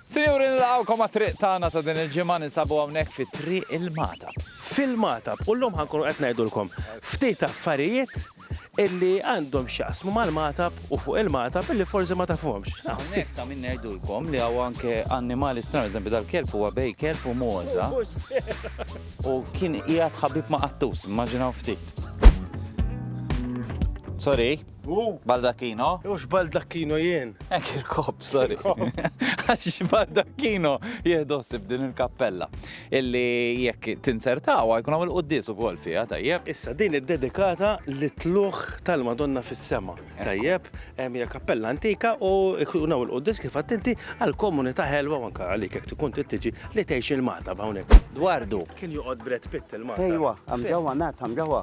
Sinjuri nilqgħukom għat-triq tagħna ta' din il-ġimgħa ninsabu hawnhekk fi Triq il-Magħtab. Fil-Magħtab u llum ħankunu qed ngħidulkom ftit affarijiet illi għandhom x'jaqsmu mal-Magħtab u fuq il-Magħtab illi forsi ma tafuhomx. Hawnhekk ta' min ngħidulkom li hawn anke annimali strani, eżempju dal-kelb huwa bejn kelb u mogħża u kien qiegħed ħabib ma' qattus, immaġinaw ftit. Sorry. Hu? Baldacchino? Jew x'Baldacchino jien? Eh, Kirkop, sorry. Għax Baldacchino jieħdu ħsieb din il-kappella illi jekk tinsertawha jkun hawn il-quddies ukoll fiha, tajjeb? Issa din iddedikata lit-tlugħ tal-Madonna fis-sema, tajjeb? Hemm hija kappella antika u jkun hawn il-quddies kif għedt inti għall-komunità ħelwa u anke għalik jekk tkun trid tiġi li tgħix il-Magħtab hawnhekk. Dwardu. Kien joqgħod Brad Pitt il-Magħtab. Ejwa, hemm ġewwa net, hemm ġewwa.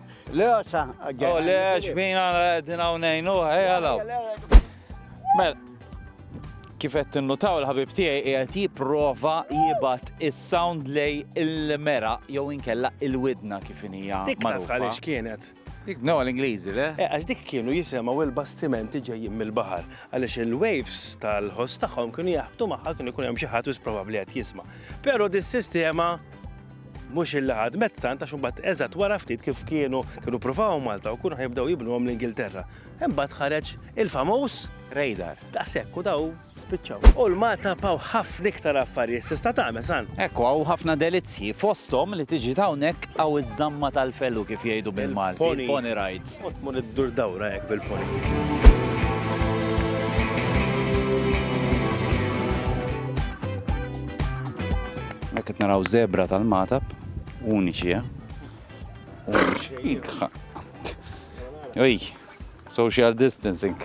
Leosa. U le, xmin għana għedin għawnajnu, għalaw. Mel, kifet t-nutaw l-ħabib tijaj jgħat jiprofa jibat il-sound lej il-mera jew inkella il-widna kifinija. Dik marfa li xkienet. Dik no l-Ingliżi, le? Eh, għax dik kienu jisimaw il-bastimenti ġejjin mill-bahar, għalix il-waves tal-ħoss tagħhom kienu jaħbtu maħħa kienu jkun hemm xi ħadd probabbli qed jisma'. Però dis-sistema Mhux illi ħadmet tant għax imbagħad eżatt wara ftit kif kienu kienu pruvaw Malta u kienu ħajibdew jibnuhom l-Ingilterra. Imbagħad ħareġ il-famuż radar. Daqshekk u daw spiċċaw. U l-Malta paw ħafna iktar affarijiet tista' tagħmel, san. Hekk hawn ħafna delizzji fosthom li tiġi t'hawnhekk hawn iż-żamma tal-felu kif jgħidu bil-Malti, il-pony rides. U tmur iddur dawra hekk bil-pony. Hekk qed naraw zebra tal-matab, uniċi, eh? Uniċi. Oj, social distancing.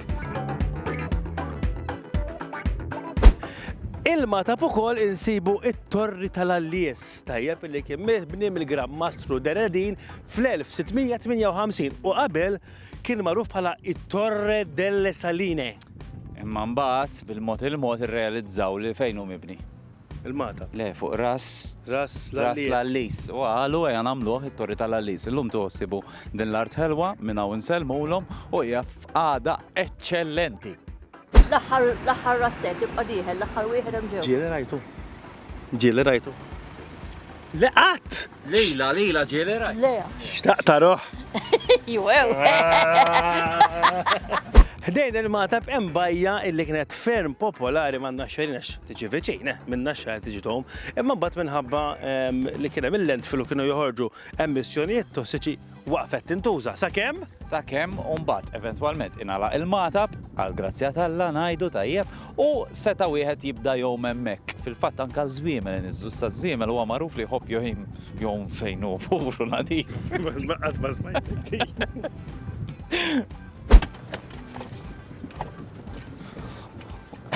Il-matab ukoll insibu it-torri tal-Allies, tajjeb li kien mibni mill-Gran Mastru Deredin fl-1658 u qabel kien magħruf bħala it-Torre delle Saline. Imma mbagħad bil-mod il-mod irrealizzaw li fejn hu mibni. Il-Mata. Le, fuq Ras. Ras l-Għallies. Ras l-Għallies. U qalu ejja nagħmluh it-Torri tal-Għallies. Illum tieħu ssibu din l-art ħelwa, minn hawn insellmulhom u hija f'qagħda eċċellenti. L-aħħar, l-aħħar razzett jibqa' dieħel, l-aħħar wieħed hemm ġew. Ġieli rajtu. Ġieli rajtu. Le qatt! Lejla, lejla ġieli rajt. Le. Xtaqt taruh. Juwew. Ħdejn il-Matab hemm bajja illi kienet ferm popolari ma' naxxarin għax tiġi viċin, eh, minn naxxar tiġi tom, imma mbagħad minħabba ehm, li kien hemm il-landfill u kienu joħorġu emissjonijiet tossiċi waqfet tintuża sakemm sakemm u mbagħad eventwalment ingħalaq il-magħtab, għall-grazzja t'Alla ngħidu tajjeb, u seta' wieħed jibda jgħum hemmhekk. Fil-fatt anke l-żwiemel iniżżu, issa ż-żiemel huwa magħruf li jħobb jgħum jgħum fejn hu pur u nadif. Qatt ma smajt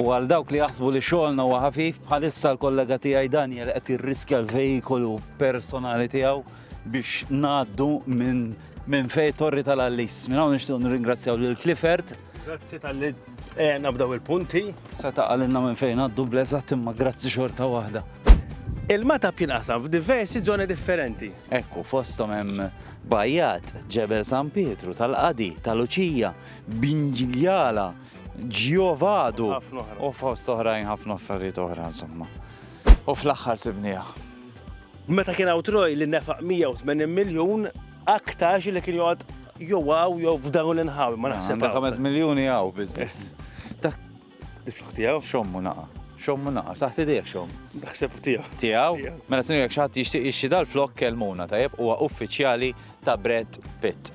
U għal dawk li jaħsbu li xogħolna huwa ħafif, bħalissa l-kollega tiegħi Daniel qed jirriskja l-vejkolu personali tiegħu biex ngħaddu minn minn fej torri tal-Allis. Minn hawn nixtieq nirringrazzjaw lil Clifford. Grazzi tal-li eh, nabdaw il-punti. Se taqalilna minn fejn għaddu bleżat imma grazzi xorta waħda. Il-matap jinqasam f'diversi żoni differenti. Ekku, fostom hemm Bajjat, Ġebel San Pietru, tal-Qadi, tal-Uċija, Binġiljala, Ġjovadu. U fost oħrajn ħafna affarijiet oħra, insomma. U fl-aħħar sibniha. Meta kien hawn Troy li nefaq 180 miljun aktar xi li kien joqgħod jew hawn jew f'dawn l-inħawi, ma naħseb. Għandek ħames miljuni hawn biss biss. Dak il-flok tiegħu. Xommu naqa. Xommu naqa, taħt idejh xom. Naħseb tiegħu. Tiegħu? Mela sinu jekk xi ħadd jixtieq jixxi dal-flok kelmuna tajjeb huwa uffiċjali ta' Brad Pitt.